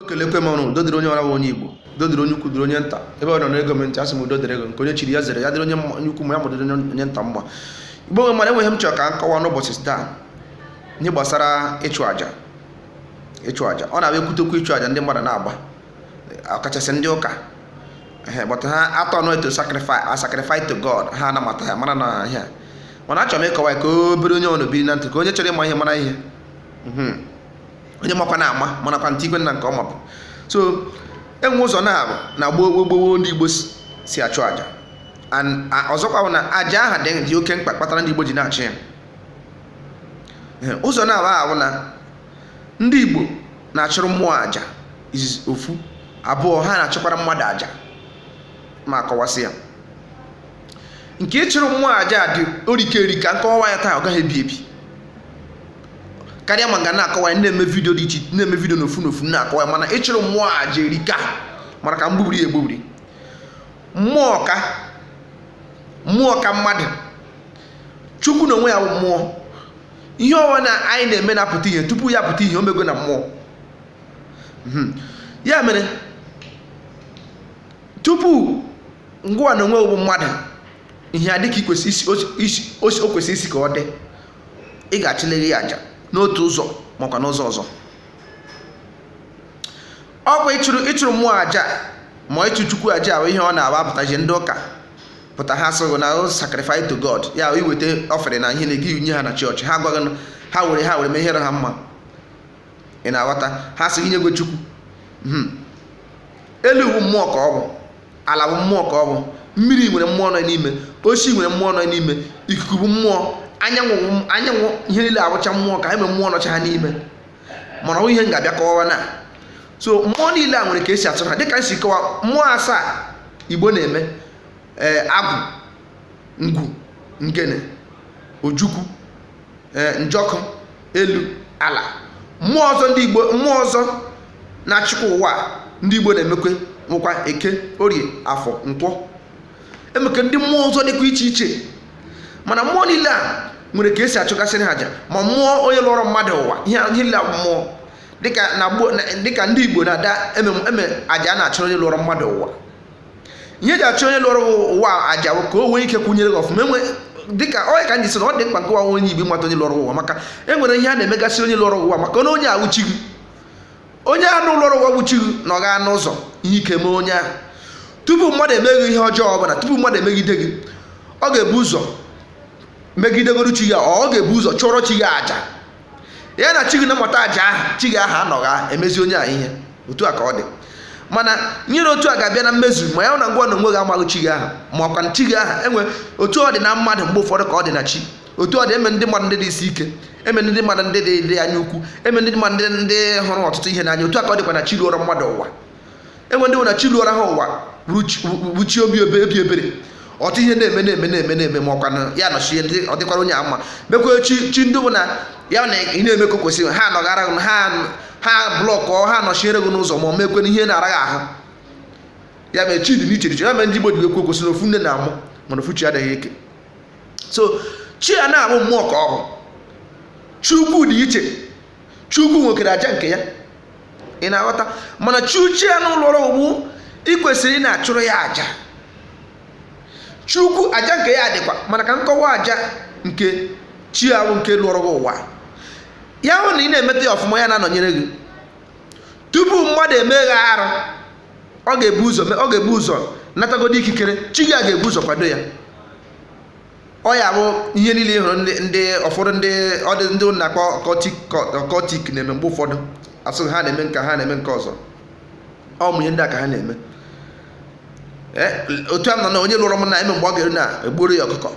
kelekwe m ụnụ udo dịrị onye ọra bụ onye igbo udo dịrị onye ukwu dịrị onye nta ebe ọ nọ na-ege m ntị asị m udo dịrị gị o nke onye chiri ya zere ya dịrị onye mma- onye ukwu mma ya dịrị onye nta mma igbo nwe mara e nwere ihe m chọrọ ka m kọwa n'ụbọchị taa ihe gbasara ịchụ àjà ịchụ àjà ọ na-abịa ekwute okwu ịchụ àjà ndị mmadụ na-agba ọkachasị ndị ụka ehe but ha atọ nọ to sacrifice a sacrifice to god ha anabata ya mara na ihe a. mana achọrọ m ịkọwa ya ka obere onye ọ na-ebiri na ntị ka onye chọrọ ịma ihe mara ihe Mhm. onye makwa na ama manakwa ntị igwe nna nke ọma bụ so enwe ụzọ naabọ na gboo gboo ndị igbo si achụ aja ọzọkwa bụ na aja ahụ dị oke mkpa kpatara ndị igbo ji na-achụ ya ụzọ naabọ ahụ na ndị igbo na-achụrụ mmụọ aja izizi ofu abụọ ha na-achụkwara mmadụ aja m ga-akọwasị ya nke ịchụrụ mmụọ aja dị o rike erika m kọwa ya taa ọ gaghị ebi ebi karịa ma m ga na-akọwa ya na-eme vidio dị iche na-eme vidio n'ofu n'ofu na-akọwa ya mana ịchụrụ mmụọ aja erika mana ka m gbubiri ya egbubiri mmụọ ka mmụọ ka mmadụ chukwu na onwe ya bụ mmụọ ihe ọwụna anyị na-eme na-apụta ihe tupu ya pụta ihe o mego na mmụọ Mhm. ya mere tupu ngịwa na onwe bụ mmadụ ihe adị ka o kwesịrị isi ka ọ dị ị ga-achụlịrị ya aja n'otu ụzọ makwa n'ụzọ ọzọ ọkwa ịchụrụ ịchụrụ mmụọ aja ma ịchụ chukwu aja bụ ihe ọ na-abụ apụtaji ndị ụka pụta ha sịrị na sacrifice to God ya iweta offering ihe ngị nye ha na chọọchị ha agwa gị ha were ha were mee ihe dị ha mma ị na-aghọta ha sị inyegwo chukwu hmm. elu wụ mmụọ ka ọ bụ ala bụ mmụọ ka ọ bụ mmiri nwere mmụọ nọ n'ime osisi nwere mmụọ nọ n'ime ikuku bụ mmụọ anyanwụ anyanwụ ihe niile awụcha mmụọ ka ha nwere mmụọ nọcha ha n'ime mana ọ ihe m ga-abịa kọwa na so mmụọ niile a nwere ka esi achụrụ ha dịka m si kọwa mmụọ asaa igbo na-eme ee eh, agwụ ngwu ngene ojukwu ee eh, njọkụ elu ala mmụọ ọzọ ndị igbo mmụọ ọzọ na-achịkwa ụwa ndị igbo na-emekwa e nwekwa eke orie afọ nkwọ e nwekwa ndị mmụọ ọzọ dịkwa iche iche mana mmụọ niile a nwere ka esi achụgasịrị ha aja ma mmụọ onye lọọrọ mmadụ ụwa ihe niile a bụ mmụọ dịka ndị igbo na-ada eme aja a na-achụrụ onye lọọrọ mmadụ ụwa ihe e ji achụ onye lọrọ ụwa aja ka o nwee ike kwụnyere gị ọfụma enwe dịka onye ka m ji sị na ọ dị mkpa nke onye igbo ịmata onye lọrọ ụwa maka e nwere ihe a na-emegasị onye lọrọ ụwa maka na onye a wụ chi gị onye ahụ lọrọ ụwa wụ chi gị na ọ gaa n'ụzọ ihe ike mee onye ahụ tupu mmadụ emee gị ihe ọjọọ ọbụla tupu mmadụ emegide gị ọ ga-ebu ụzọ megidegoro chi gị ọ ga-ebu ụzọ chụọrọ chi gị aja ya na chi gị na-amata aja ahụ chi gị ahụ anọgha emezi onye ahụ ihe otu a ka ọ dị mana nyere otu a ga-abịa na mmezu ma ya na gịnwa n'onwe gị amaghị chi gị ahụ makwa na chi gị ahụ e nwee otu ọ dị na mmadụ mgbe ụfọdụ ka ọ dị na chi otu ọ dị e nwere ndị mmadụ ndị dị isi ike e nwere ndị mmadụ ndị dị anya ukwu e nwere ndị mmadụ ndị hụrụ ọtụtụ ihe n'anya otu a ka ọ dịkwa na chi lụọrọ mmadụ ụwa e nwere ndị na chi lụọrọ ha ụwa wụ chi obi obi ebere ọtụ ihe na-eme na-eme na-eme na-eme makwa na ya nọchie ndị ọ dịkwara onye a mma e nwekwa chi chi ndị bụ na ya na ị na-eme ka o kwesịrị ha nọgara gị ha ha blọkụ ha nọchiere gị n'ụzọ ma ọ mekwe na ihe na-ara gị ahụ ya mere chi dị n'iche iche ya mere ndị Igbo ji ekwu okwu sị na ofu nne na-amụ mana ofu chi adịghị eke so chi a na-abụ mmụọ ka ọ bụ chukwu dị iche chukwu nwekwara aja nke ya ị na-aghọta mana chi chi ahụ lụọrọ ụwa ị kwesịrị ịna-achụrụ ya aja chukwu aja nke ya dịkwa mana ka m kọwaa aja nke chi ahụ nke lụọrọ gị ụwa ya wụ na ị na-emeta ya ọfụma ya na-anọnyere gị tupu mmadụ eme gị arụ ọ ga-ebu ụzọ natagodi ikikere chi gị a ga-ebu ụzọ kwado ya ọ ya bụ ihe niile ị hụrụ ndị ụfọdụ ndị ọdị ndị ụnụ na-akpọ occultic na-eme mgbe ụfọdụ a sị gị ha na-eme nka ha na-eme nke ọzọ ụmụ ihe ndị a ka ha na-eme eh, otu a nọ na onye lụrụ m na eme mgbe ọ ga-eru na egbuoro ya ọkụkọ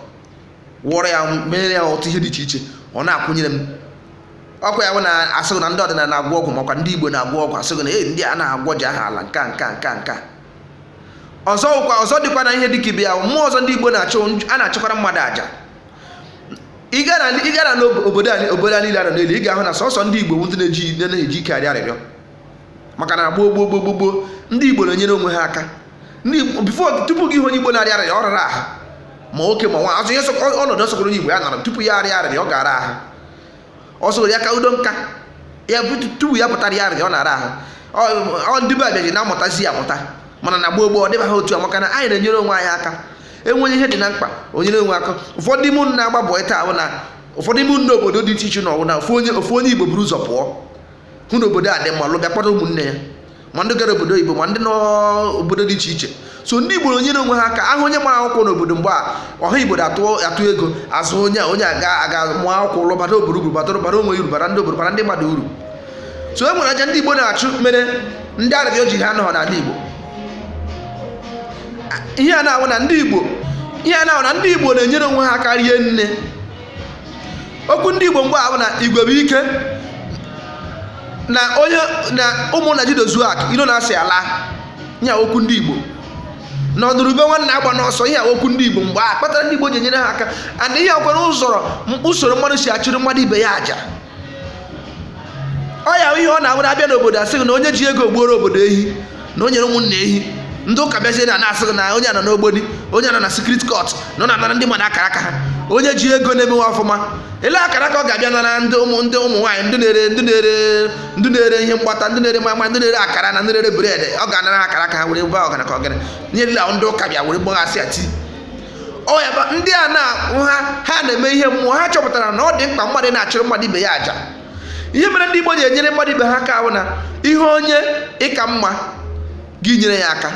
wụọrọ ya mere ya ọtụtụ ihe dị iche iche ọ na-akwụnyere m ọ kwa ya bụ na a sị gị na ndị ọdịnala na-agwọ ọgwụ makwa ndị Igbo na-agwọ ọgwụ a sị gị na ee ndị a na-agwọ ji aha ala nka nka nka nka ọzọ ụkwa ọzọ dịkwa na ihe dịka ibe ya mmụọ ọzọ ndị Igbo na-achụ a na-achụkwara mmadụ aja ị gara n'obodo obodo a niile nọ n'elu ị ga-ahụ na sọsọ ndị Igbo adịghị eji ike arịọ arịrịọ maka na gboo gboo gboo gboo ndị Igbo na-enyere onwe ha aka before tupu gị ịhụ onye Igbo na-arịa arịrịọ ọ rara ahụ ma nwoke ma nwaanyị ihe ọnọdụ ọ sọkọrọ onye Igbo ya nọrọ tupu ya arịa arịrịọ ọ ga-ara ahụ ọ sọrọ ya ka udo nka ya tupu ya pụta rịa arịrịọ ọ na-ara ahụ ọ ndị be abịaji na-amụtazi ya amụta mana na gboo gboo ọ dịbaghị otu a maka na anyị na-enyere onwe anyị aka enweghị ihe dị na mkpa inyere onwe aka ụfọdụ ime ụnụ na-agba bọị taa bụ na ụfọdụ ime ụnụ nọ n'obodo dị iche iche na ọ wụ na ofu onye ofu onye igbo buru ụzọ pụọ hụ na obodo a dị mma lọ bịa kpọta ụmụnne ya ma ndị gara obodo oyibo ma ndị n'obodo dị iche iche so ndị igbo na-enyere onwe ha aka a hụ onye mara akwụkwọ n'obodo mgbe a ọha igbo atụ ego azụ onye onye a gaa ga mụọ akwụkwọ ọ lọ bara obodo uru bata bara onwe uru bara ndị obodo bara ndị mmadụ uru so e nwere aja ndị igbo na-achụ mere ndị arịrịọ jiha nọọ n'ala igbo ihe a na-ahụ na ndị igbo ihe a na-ahụ na ndị igbo na-enyere onwe ha aka rie nne okwu ndị igbo mgbe ahụ na igwe bụ ike na onye na ụmụnna jido zuo aka ilo na-asị ala ihe wụ okwu ndị igbo na ọ nụrụ ube nwanne agbana ọsọ ihe wụ okwu ndị igbo mgbe a kpatara ndị igbo ji enyere ha aka and e nwekwara usoro usoro mmadụ si achụrụ mmadụ ibe ya aja ọ ya ihe ọ na-ahụ abịa n'obodo asị gị na onye ji ego gbuoro obodo ehi na o nyere ụmụnna ehi ndị ụka bịazie na na-asị gị na onye nọ n'ogboni onye nọ na secret cult na ọ na-anara ndị mmadụ akara aka ha onye ji ego na-emewe ọfụma ele akara aka ọ ga-abịa nara ndị ụmụ ndị ụmụ nwaanyị ndị na-ere ndị na-ere ndị na-ere ihe mgbata ndị na-ere maimai ndị na-ere akara na ndị na-ere bread ọ ga-anara akara aka ha were gba ọgana ka ọgaranya ndị ụka bịa were gbaghasị ya tii ọ ya bụ ndị a na-ahụ ha ha na-eme ihe mmụọ ha chọpụtara na ọ dị mkpa mmadụ na-achụrụ mmadụ ibe ya aja ihe mere ndị Igbo ji enyere mmadụ ibe ha aka bụ na ị hụ onye ị ka mma gị nyere ya aka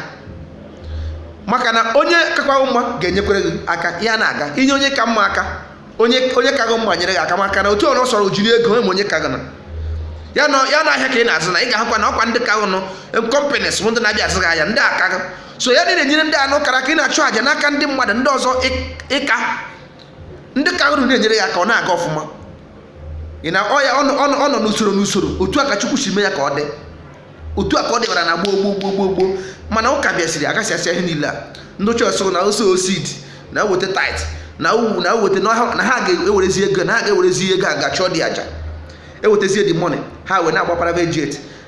maka na onye kakwa gị mma ga-enyekwere gị aka ya na-aga i nye onye ị ka mma aka onye onye ka gị mma nyere gị aka maka na otu ọrụ sọrọ jiri ego enwe onye ka gị na ya na ahịa ka ị na-azụ na ị ga-ahụkwa na ọ kwa ndị ka gị nụ companies bụ ndị na-abịa azụ gị ahịa ndị ka gị so ya na ị na-enyere ndị anụ kara aka ị na-achụ àjà n'aka ndị mmadụ ndị ọzọ ị ka ndị ka uru na-enyere ya aka ọ na-aga ọfụma ị na ọya ọ nọ n'usoro n'usoro otu a ka Chukwu si mee ya ka ọ dị otu a ka ọ dịbara na gboo gboo gboo gboo gboo mana ụka bịazịrị agasị asị ihe niile a ndị chọọchị asị na sow seed na weta tithe na uwu na weta na ha ga-ewerezi ego na ha ga-ewerezi ego a ga-achụdị aja ewetazie the money ha wee na-agba private jet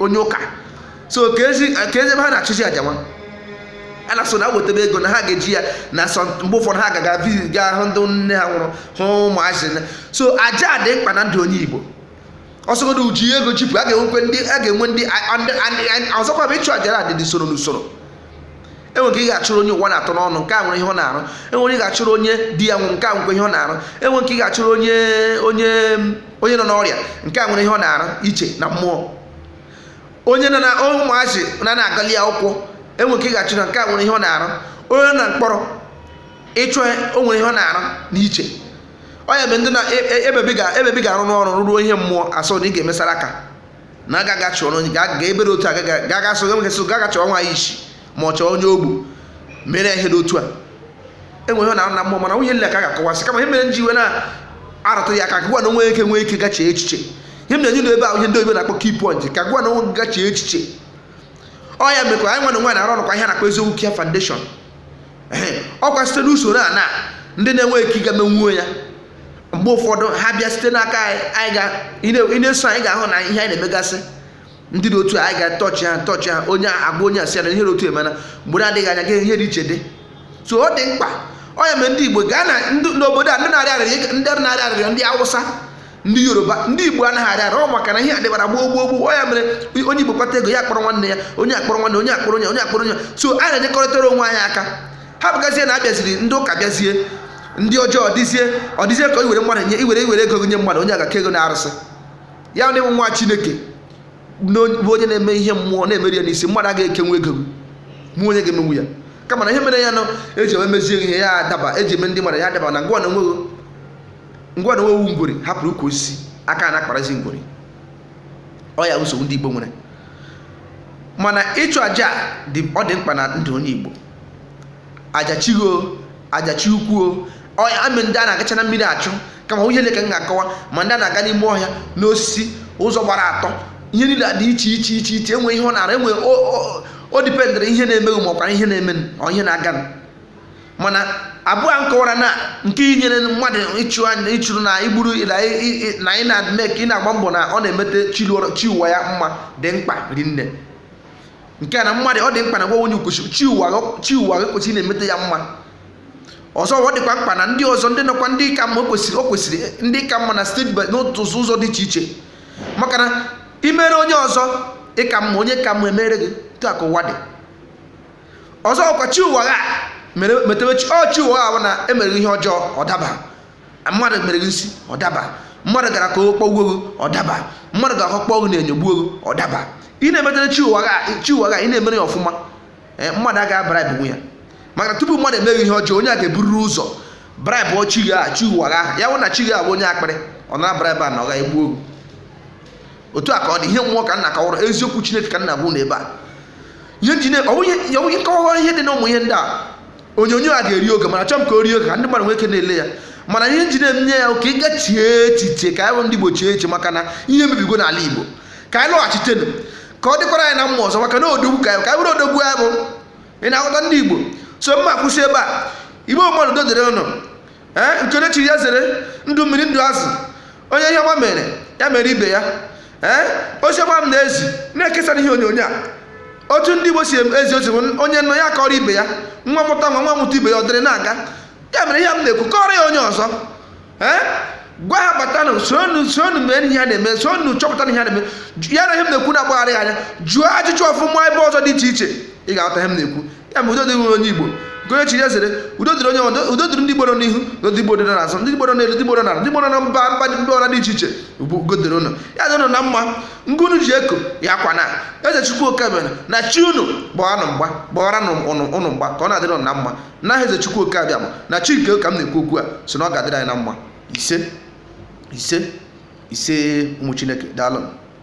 onye ụka so ka ezi ebe ha na-achụzi aja nwa a na-asị na wetebe ego na ha ga-eji ya na mgbe ụfọdụ ha ga-aga visit gaa hụ ndị nne ha nwụrụ hụ ụmụazị so aja dị mkpa na ndụ onye Igbo ọ sọgodu i ji ego jipụ a ga-enwekwe ndị a ga-enwe ndị ọzọkwa bụ ịchụ aja na adịdị usoro n'usoro enwere nke ị ga-achụrụ onye ụwa na-atụ n'ọnụ nke a nwere ihe ọ na-arụ enwere ị ga-achụrụ onye di ya nwụrụ nke a nwekwa ihe ọ na-arụ enwere nke ị ga-achụrụ onye onye onye nọ n'ọrịa nke a nwere ihe ọ na-arụ iche na mmụọ onye nọ na ụmụazị na na-agali akwụkwọ enwere nke ị ga-achụrụ nke a nwere ihe ọ na-arụ onye nọ na mkpọrọ ị chụọ o nwere ihe ọ na-arụ na iche ọ ya ebe ndị na ebe ị ga-arụ n'ọrụ rụruo ihe mmụọ asị na ị ga-emesara aka na agaghị achọrọ onye ga-ebere otu a gaga so nwoke so gaga chọrọ nwaanyị isi ma ọ chọọ onye ogbi mere ihe dị otu a enwe ihe na na mmụọ mana ọ bụghị ihe niile ka a ga-akọwasị kama ihe mere m ji wee na-arụtụ ya aka ka gịwa na onwe gị nwee ike ga chee echiche ihe m na-enye n'ebe ahụ ihe ndị oyibo na-akpọ key point ka gịwa na onwe gị chee echiche ọ ya mekwa anyị nwa na onwe anyị na-arụ ọrụ kwa ihe a na-akpọ Eziokwu Care Foundation ọ kwa site n'usoro a na ndị na-enwe ike ga emenwuo ya mgbe ụfọdụ ha bịa site n'aka anyị ị na-eso anyị ga-ahụ na ihe anyị na-emegasị ndị dị otu anyị ga-atọchi ha tọchi ha onye agba onye asị na ihe dị otu emena mgbe na-adịghị anya gị ihe dị iche dị so ọ dị mkpa ọ ya mere ndị Igbo gaa na n'obodo a ndị na-arịọ arịrịọ ndị na-arịọ arịrịọ ndị Awụsa ndị yoruba ndị igbo anaghị arịọ arịrịọ maka na ihe adịbara gboo gboo gboo ya mere onye igbo kpata ego ya akpọrọ nwanne ya onye akpọrọ nwanne onye akpọrọ onye onye akpọrọ onye so anyị na-enyekọrịtara onwe anyị aka ha bụgazie na abịaziri ndị ụka bịazie ndị ọjọọ ọdịzie ọdịzie ka iwere mmadụ nye iwere iwere ego nye mmadụ onye agaa kee ego n'arụsị ya ndị nwa chineke bụ onye na-eme ihe mmụọ na-emeru ya n'isi mmadụ agaghị ekenwu ego mụ onye ga-emenwu ya kama na ihe mere ya nọ eji eme mezie ihe ya adaba eji eme ndị mmadụ ya adaba na ngwa na onweghị ngwa na ọ wụ ngwere hapụrụ ukwu osisi aka na-akparazi ngwere ọ ya nsogbu ndị Igbo nwere mana ịchụ aja ọ dị mkpa na ndụ onye Igbo aja chi o aja chi ukwu o ọ ya ma ndị a na-agacha na mmiri achụ kama ọ wụghị ihe niile ka m ga-akọwa ma ndị a na-aga n'ime ọhịa n'osisi ụzọ gbara atọ ihe niile dị iche iche iche iche e nwee ihe ọ na-arụ enwe o dependịrị ihe na-eme gị ma ọkwara ihe na-eme ọ ihe na-aga mana abụọ a m kọwara na nke inyere mmadụ ịchụ aja ịchụrụ na igburu na ị na-eme ka ị na-agba mbọ na ọ na-emete chi ụwa ya mma dị mkpa rinne nke a na mmadụ ọ dị mkpa na gwa onye ukwuchi chi ụwa gị kwesịrị na-emete ya mma ọzọ ọ dịkwa mkpa na ndị ọzọ ndị nọkwa ndị ka mma kwesịrị o kwesịrị ndị ka mma na steeti n'otu ụzọ dị iche iche maka na imere onye ọzọ ị ka mma onye ka mma emere gị otu a ka ụwa dị ọzọ ọkwa chi ụwa ha mere metewe chi ọ chi ụwa ha bụ na emere ihe ọjọọ ọ daba mmadụ mere gị nsị ọ daba mmadụ gara ka o kpọgbuo gị ọ daba mmadụ gara ka o kpọọ gị n'enyo gbuo gị ọ daba ị na-emetere chi ụwa ha chi ụwa ha ị na-emere ya ọfụma ee mmadụ agaghị abara ibinwu ya maka tupu mmadụ emee gị ihe ọjọọ onye a ga-ebururu ụzọ bribe chi gị aha chi ụwa ha ya wụ na chi gị abụ onye akpịrị ọ nara bribe a na ọ gaghị egbuo gị otu a ka ọ dị ihe mmụọ ka m na-akọwara eziokwu chineke ka m na-ekwu na ebe a ihe m ji na ọ bụrụ m kọwa ihe dị na ụmụ ihe ndị a onyonyo a ga-eri oge mana achọọ m ka o rie oge ka ndị mmadụ nwee ike na-ele ya mana ihe m ji na-eme ihe a ka ị gaa chie echiche ka anyị bụ ndị Igbo chie echiche maka na ihe mebigo n'ala Igbo ka anyị lọghachitenụ ka ọ dịkwara anyị na mma ọzọ maka na odogwu ka anyị ka anyị bụrụ odogwu ya bụ ị na-aghọta ndị Igbo so m ga-akwụsị ebe a Igbo mmadụ udo dịrị ụnụ ee nke onye chiri ya zere ndụ mmiri ndụ azụ onye ihe ọma mere ya mere ibe ya ee oziọma m na-ezi na-ekesara ihe onyonyo a otu ndị igbo si ezi ozi onye nụ ya kọrọ ibe ya nwa mụta nwa nwa mụta ibe ya ọ dịrị na-aga ya mere ihe m na-ekwu kọrọ ya onye ọzọ ee gwa ha batanụ soonu soonu mee ihe a na-eme soonu chọpụta ihe a na-eme ya na ihe m na-ekwu na-agbagharị anya jụọ ajụjụ ọfụma ebe ọzọ dị iche iche ị ga-aghọta ihe m na-ekwu ya ma udo dịrị onye igbo bụ onye chi ya sịrị udo dịrị onye udo dịrị ndị igbo nọ n'ihu na ndị igbo dịrị n'azụ ndị igbo nọ n'elu ndị igbo nọ n'ala ndị igbo nọ na mba mba ndị ọra dị iche iche bụ udo dịrị ụnụ ya dị ụnụ na mma ngụ ụnụ ji eko ya akwana eze chukwu oke abịama na chi ụnụ gbaara ụnụ mgba gbaara ụnụ mgba ka ọ na-adịrị ụnụ na mma na eze chukwu oke abịama na chi nke ka m na-ekwu okwu a so na ọ ga-adịrị anyị na mma ise ise ise ụmụ chineke daalụ